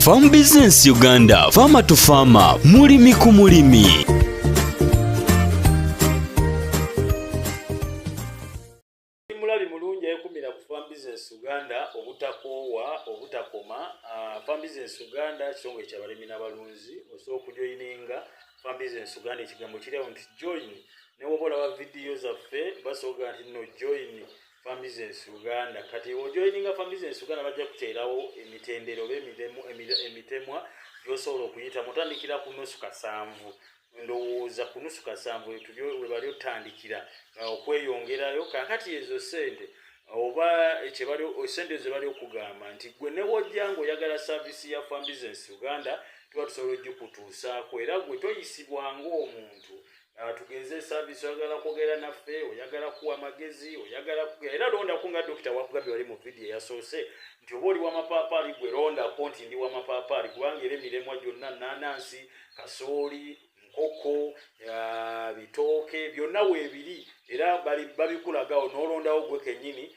Farm Business Uganda, Farmer to Farmer, mulimi ku mulimi. Mulabi mulungi ekumira ku Farm Business Uganda obutakoowa obutakoma. Uh, Farm Business Uganda kitongole kya balimi n'abalunzi osobola okujoyininga Farm Business Uganda ekigambo kiri awo nti join ne woba olaba vidiyo zaffe basooka nti no join Farm Business Uganda kati ojoininga Farm Business Uganda bajja kuteerawo emitendero oba emiremu emitemwa gyosobola okuyita mutandikira ku nusu kasanvu ndowooza ku nusu kasanvu webali otandikira uh, okweyongerayo kakati ezo sente oba ekyebali sente zebali okugamba nti gwe newojja nga oyagala saavisi ya Farm Business Uganda tuba tusobola ojikutuusaako era gwe toyisibwa ngaomuntu Ah, tugenze service oyagala kwogera naffe oyagala kuwa magezi oyagala kugera era londako nga dokita wakugambye wali mu vidiyo eyasoose nti oba oli wamapaapaali gwe londako nti ndi wamapaapaali kubanga era emiremwa gyonna nanansi kasooli nkoko ah, bitooke byonna weebiri era babikulaga onoolondawo gwe kennyini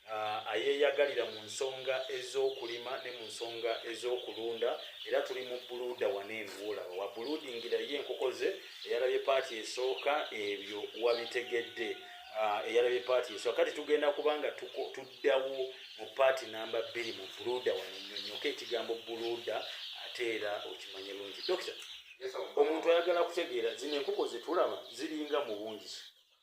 ayeeyagalira mu nsonga ez'okulima ne mu nsonga ez'okulunda era tuli mu buluuda wano eno woolaba wa buluudingira ye enkoko ze eyalabye paati esooka ebyo wabitegedde ah, eyalabye paati esooka kati tugenda kuba nga tuddawo mu paati namba bbiri mu buluuda wano nyonyoka ekigambo buluuda ate era okimanye lungi dokita omuntu ayagala kutegeera zino enkoko zetulaba ziringa mu bungi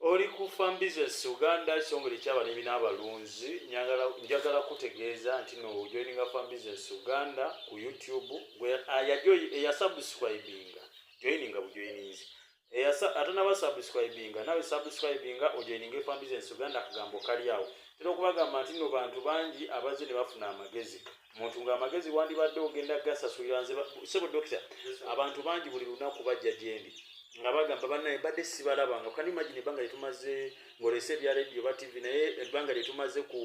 oli ku farm business uganda ekitongole ekyabalimi n'abalunzi njagala kutegeeza nti nojoininga farm business uganda ku youtube eyasubscribinga joininga bujoininzi eyasa atanaba subscribinga nawe subscribinga ojoininga efam business uganda akagambo kali awo tera okubagamba nti no bantu bangi abazze ne bafuna amagezi muntu nga amagezi wandibadde ogenda gasasulira nze sebo dokita abantu bangi buli lunaku bajja gyendi nga bagamba banaye mbadde sibalaba nga kani imagine ebbanga lyetumaze ngolese ebya radio ba tv naye ebbanga lyetumaze ku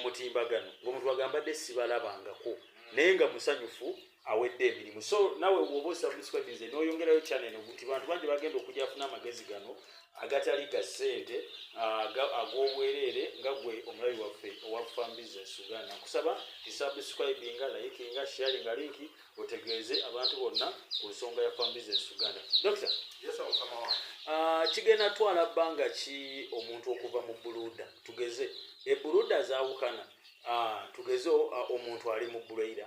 mutimbagano ngaomuntu agambadde sibalabangako naye nga musanyufu awedde emirimu so nawe woba osubscribe nze noyongerayo channel eno nti bantu bangi bagenda okujja afuna amagezi gano agatali ga ssente ag'obwereere nga gwe omulabi waffe owa farm business uganda nkusaba isubscribinga likinga sharinga linki otegeeze abantu bonna ku nsonga ya farm business uganda dokita ah, kigenda twala bbanga ki omuntu okuva mu buluda tugeze ebuluda zawukana ah, tugeze ah, omuntu ali mu buleira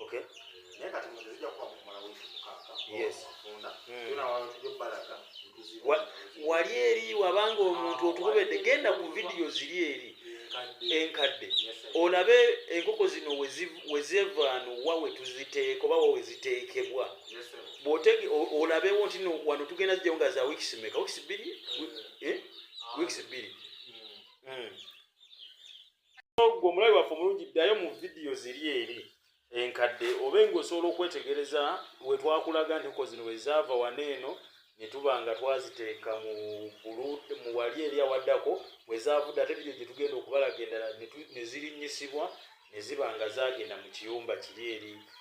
Okay. Naye kati mu tezija kuba mu mala wifi mukaka. Yes. Funda. Mm. Tuna wano tujjo balaka. Wa, wali eri wabanga omuntu ah, otubede genda ku video ziri eri. Enkadde. Olabe enkoko zino wezevano wa wetuziteeka oba wa weziteekebwa. Yes, Bwotege olabe wonti no wano tugenda zijja nga za weeks meka. Weeks bili? Mm. Eh? Ah. Weeks bili. Mm. Mm. gwe omulabi waffe omulungi ddayo mu vidiyo ziri eri enkadde oba enga osobola okwetegereza wetwakulaga ntiko zino wezaava wana eno netuba nga twaziteeka mu wali eri awaddako wezaavudde ate vidiyo gyetugenda okubalaga endala nezirinyisibwa neziba nga zagenda mu kiyumba kiri eri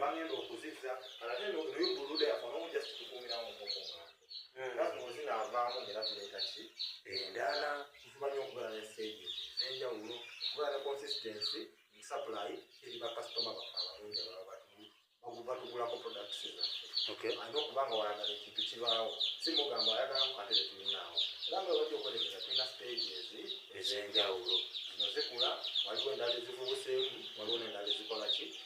bagenda okuzizza ate noyo buluda yafuna omu just kukuumiramu omukunga era zino zinaavaamu ngera tuleeta ki endala tufuba nyo okugala ne stage ezenjawulo okugala ne consistency mu supply eri bakasitoma baffe abalungi ababa batuli batugulako products zaffe alina okuba nga wayagala ekintu kibaawo si mugamba ayagalamu ate tetulinaawo era nga webajja okwetegeza tulina stage ezi ezenjawulo zino zikula waliwo endala ezivubuseemu waliwo nendala ezikola ki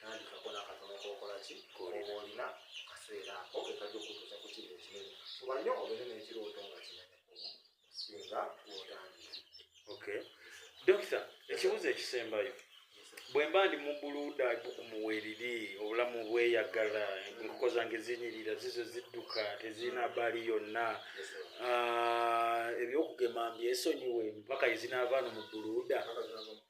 nandikako nakatono kokola ki koba olina kaseera ako kekajja okutuusa ku kintu ekinene kuba nyo obere nekirooto nga kinene singa wotandika okay dokita ekibuzo ekisembayo bwemba ndi mubuluda bukumuweriri obulamu bweyagala enkoko zange zinyirira zizo zidduka tezirina baali yonna ah, ebyokugema mbyesonyiwe mpaka ezinaavaano mubuluda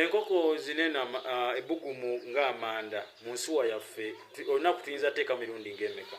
enkoko zinena uh, ebugumu nga amanda mu nsuwa yaffe olunaku tuyinza teeka mirundi ngaemeka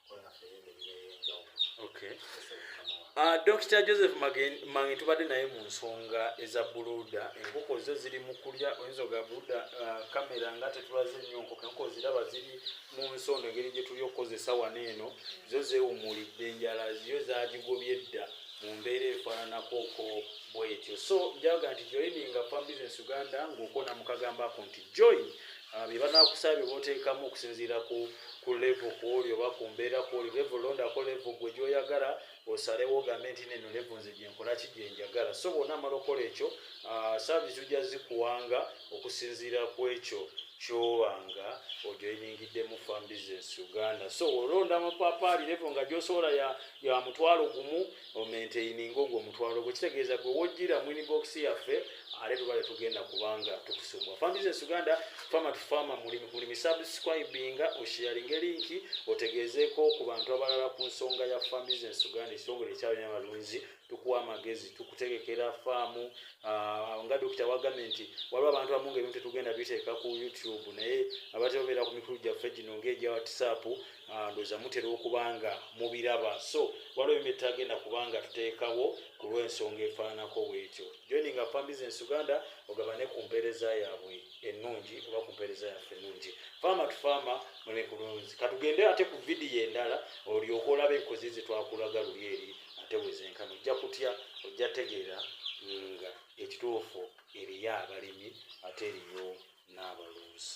Ah, dr joseph mange tubadde naye mu nsonga eza buluda enkoko zo ziri mu kulya oyinza oga buluda kamera ah, nga tetulaze nnyo nkoko enkoko ziraba ziri mu nsonda engeri gye tuli okukozesa wano eno zo zeewumulidde enjala ziyo zagigobye dda mu mbeera efaananakoko bwetyo so njaga nti joininga fam business uganda ng'okona mukagambako nti join Ah, bye banakusaba bye boteekamu okusinziira ku ku levo kwoli oba ku mbeera kwoli levo londako levo gwe gyoyagala osalewo ogambe nti neno levo nze gyenkola ki gyenjagala so bwona amala okola ekyo ah, saavisi ojja zikuwanga okusinziira ku ekyo kyobanga ojoiningiddemu fam business uganda so olonda amapaapaali levo nga gyosobola ya mutwalo gumu omenteininga ogwo omutwalo gwe kitegeeza gwe wojjira mu inibokisi yaffe ate tuba tetugenda kubanga tukusumwa fan business uganda fama to fama mulimi subscribinga oshiyalinga linki otegeezeeko ku bantu abalala ku nsonga ya fan business uganda ekitongole ekyalina abalunzi tukuwa amagezi tukutegekera faamu ah, nga dokita wagambye nti waliwo abantu amu nga ebintu tetugenda biteeka ku youtube naye abatebabeera ku mikulu gyaffe gino ngaegya whatsapp Ah, ndoza mutera okuba nga mubiraba so waliwo ebintu byetutagenda kuba nga tuteekawo ku lw'ensonga efaananako bwetyo joininga fan business uganda ogabane ku mpeereza yaabwe ennungi oba ku mpeereza yaffe ennungi faama tu faama mune ku lunzi katugende ate ku vidiyo endala olyoka olaba enkozi zetwakulaga luli eri ate wezenkana ojja kutya ojja tegeera nga ekituufu eriyo abalimi ate eriyo n'abalunzi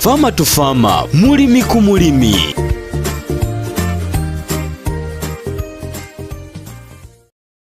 Fama to Fama, mulimi ku mulimi.